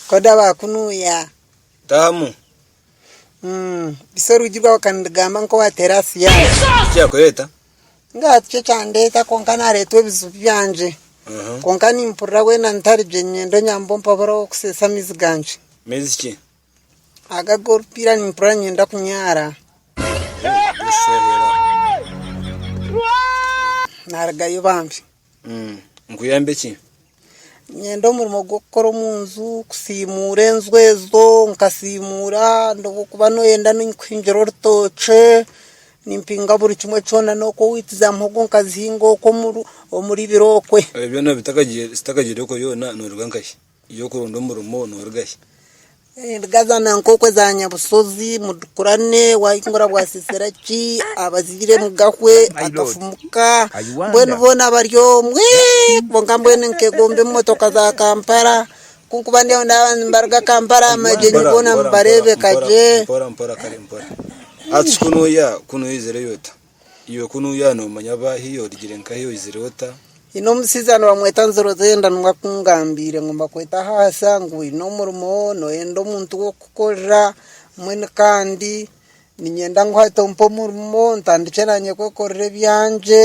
Koda bakunuya. Tahamu. Bitsya orwigi rwawe okandigamba ngu kowatera aha siyani. Niki kyakureta? Ngaaha tikyo kyandeta kwonka naretwa ebizibu byangye. Kwonka nimpurira wena ntari gye niinyenda onyambe ompabure ahokuseesa amaizi gangye. Maizi ki? Aga agorupiira nimpurira niinyenda kunyara. Narugayo bambi. Nkuyambe ki? Niinyenda omurimo gw'okukora omu nju, kusiimuura enju ezo, nkasiimuura, obwokuba noyenda ninkuhingira orutookye, nimpinga buri kimwe kyona, n'oku wiiti za muhogo nkazihinga oku omuri biro okwe. Ebyo byona zitakagiire okwe byona nooruga nkahi? y'okuronda omurimo noruga shi? Endiga za nankokwe za nyabushozi mudukurane waayinga orabwasisira ki abazaire mugahwe akafumu ka mbwenu boona bari omwo eeh kwonka mbwenu nkegomba emotoka za kampala kunkuba ndiyo ndaba nibaruga kampala aha magyenyi boona nibareebeka gye. Iwe ku nuya nomanya aba hi origire nka hi oizire ota. Nyine omusija nibamweta nzirozenda niwe akungambiire ngu mbakwete ahaahisa ngu oyine omurimo noyenda omuntu wokukorera mbwenu kandi ninyenda ngu hati ompe omurimo ntandikye nanye kwekorera ebyangye.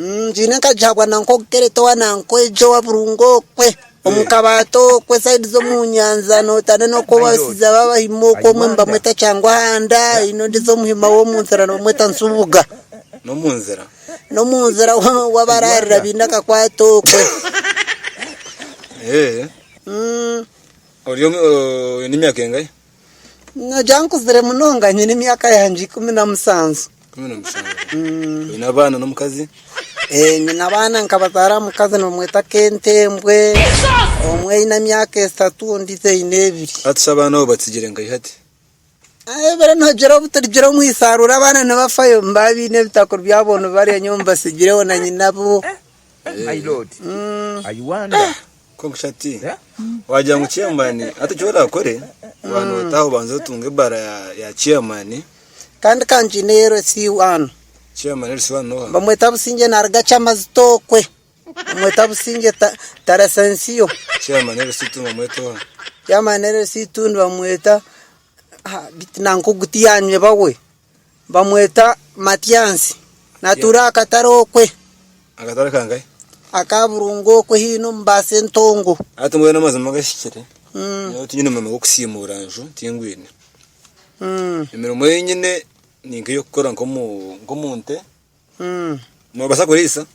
Ngiine nkagihabwa na nk'okugerete owa na nk'egi owa burungu okwe, omu kabaati okwe sayidi z'omu nyanja nootana n'oku abashaija baabahima okwo omwe nibamweta Kyanguhanda haine ondiijo omuhima w'omu nzira nibamweta Nsubuga n'omu nzira ou abaraarira baine akakwate okwe. Oine emyaka engahi? Nogira ngu nkuzire munonga? Nyine emyaka yangye ikumi na mushanju. Oine abaana n'omukazi? Ee, nyine abaana nkabazaara aha mukazi nibamweta Kentembwe. Omwe aine emyaka eshatu ondiijo aine ebiri. Hati shi abaana abo batsigire nka ihati? Ebibaire nihagire obu turigira omu ishaarura abaana nibafayo, nibaba baine ebitakuri byabo nibarya nyowe mbatsigireho na nyina bo. Konkushati wagira ngu chairman hati eki orakore waaba notaha obanze otunge ebara ya chairman Kandi ka ngyine ya LC one chairman LC one noha bamweta Busingye naruga Kyamazito okwe bamweta Busingye ta Taresensiyo chairman LC two nibamweta oha chairman LC two nibamweta ha beitu nanka ogu tiyanyeba we. Bamweta Matyansi. Natuura aha katare okwe. Akatare kangahe? Aka Burungu okwe haine omu baasi entongo. Hati mbwenu amazima gahikire. Nyowe tinyine murimo gw'okusiimuura nju, tingwine. Emirimo ei nyine ni nk'ey'okukora nk'omu nte. Nobaasa kuriisa?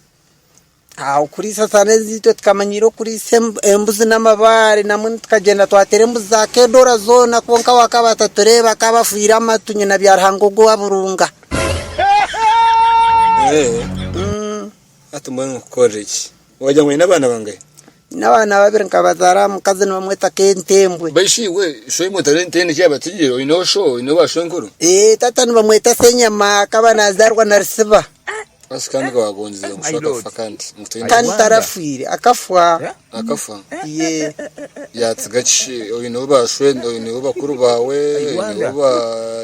Okuriisa sare ezitwe tukamanyiira okuriisa embuzi n'amabaare namwe tukagyenda twateera embuzi za kedoora zoona kwonka we akaba atatureeba akaba afwire amatu nyina byaruhanga ogwo owa burunga. Hati mbwenu nkukorereki? Waagira ngu aine abaana bangahi? Nyine abaana babiri nkabazaara aha mukazi nibamweta Kentembwe. Mbwenu shi iwe showe omu ntare nte niki yabatsigire? Oineho sho? Oine ba shwenkuru? Ee, taata nibamweta Senyama akaba naazaarwa Narisiba. Asi kandi ka waagongyire ngu sho akafa kandi ngu taine Kandi baana? tarafwire, akafwa. Akafa? Yee. Yaatsiga ki? Shi oineho ba shwe? Oineho bakuru baawe? Oineho ba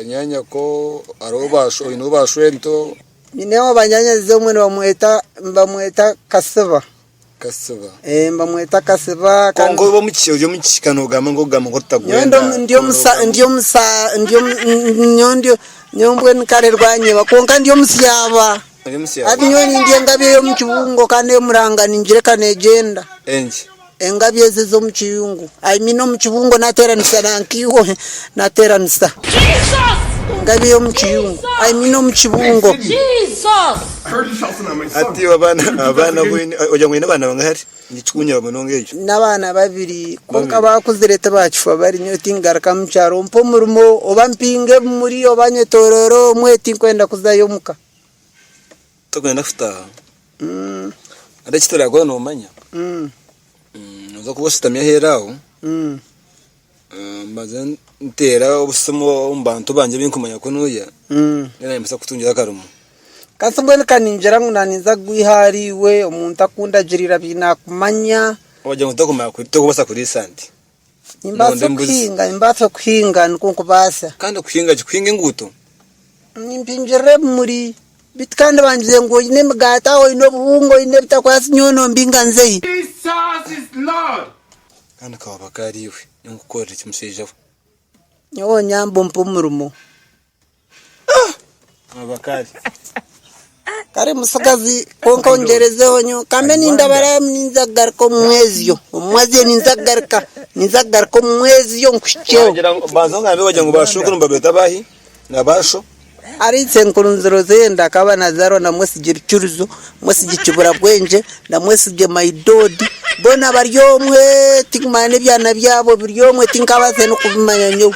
nyaanyako? Hariho ba sho? Oineho ba shwento? Nyine ow'abanyanyazi omwe nibamweta Kasiba. Kwonka ori omu kishika noogamba ngu otagwenda. Nyowe mbwenu kare rwanyeba kwonka ndi omusyaaba. Hati nyowe nindya engabi ey'omu kibungo kandi eyo muranga ningireka neegyenda. Engabi ezi ez'omu kiyungu. I mean omu kibungo nateranisa na nk'eihwa he nateranisa. Engabi ey'omu kiyungu. I mean omu kibungo. Hati abaana abaana bu ogira ngu oine abaana bangahe hati? Nikikunyura munonga ekyo. Nyine abaana babiri kwonka baakuzire tibakifa bari nyowe tinkugaruka mu kyaro mpa omurimo oba mpinga ebimuri oba nyetoroora omwe tinkwenda kuzayo omuka. Tokwenda kutaaha? Hariho eki turaakora noomanya? Nooza kuba oshutami aheeru aho, mbanze nteere obusimu omu bantu bangye abu ndikumanya ku nooya, mbwenu nimbaasa kukutungira akarimo. Kansi mbwenu ka ningira ngu naaninza kugwiha ahariiwe, omuntu aku ndagirira bi naakumanya. Waagira ngu tokumanya kuri, tokubaasa kuriisa nte? Nimbaasa Nonda embuzi. okuhinga, nimbaasa okuhinga nikwo nkubaasa. Kandi okuhinga ki? Kuhinga enguuto? Nimpingirira ebimuri. Beitu kandi bangize ngu oine emigaati aho, oine obuhunga, oine ebitakwatsi nyowe nombinga nze hi? Kandi ka waaba ka ari iwe, nyowe nkukorere ki mushaija we? Nyowe onyambe ompe omurimo. Kare mutsigazi kwonka ongyerezeho nyowe kambe nindabara ninza kugaruka omu mwezi yo omu mwezi yo ninza kugaruka ninza kugaruka omu mwezi yo nkuhikyeho wagira ngu banza ongambe wagira ngu ba shwekuru nibabeeta baahi na ba sho Ari isenkuru nzirozire ndakaba nazarwa na mwesigye rucuruzo mwesigye kiburabwengye na mwesigye my dod boona bari omwe tinkumanya nebyana byabo biri omwe tinkabaase nokubimanya nyowe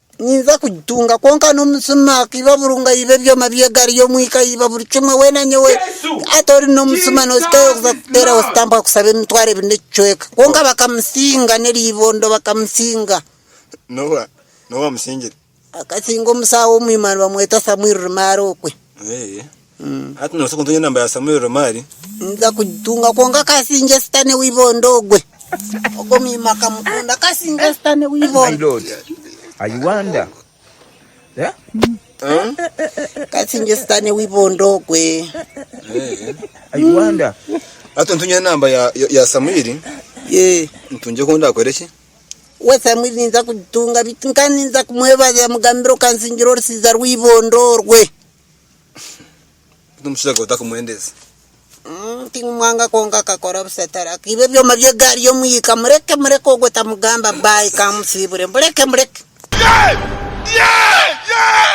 Ninza kugitunga kwonka n'omutsima ku ibabuuru ngu aibe ebyoma by'egaari y'omwika aiba buri kimwe weena nyowe hati ori n'omutsima notsitayo kuza kuteeraho sitampa kusaba emitwaro ebiri n'ekicweka kwonka bakamusinga n'eriibondo bakamusinga akasinga omusaaho omwima nibamweta Samuel Rumaara okwe. Hati noobaasa kuntungira namba ya Samuel Romari? Ninza kugitunga kwonka ka singye sitane w'ibondo ogwe. Ogwo mwima akamukunda ka singye sitane w'ibondo. Ka singye sitane w'ibondo ogwe. Hati ontungira namba ya ya Samuel Yee. ntungire ku ndaakore ki? We Samuel ninza kugitunga beitu nka ninza kumwebaza mugambira okansingira orusiiza rw'ibondo orwe. Hati omushaija gwe otakumwendeze. Tinkumwanga kwonka akakora busa tari akaiba ebyoma by'egaari y'omwika. Mureke mureke ogwo tamugamba baayi ka amusiibure. Mureke mureke.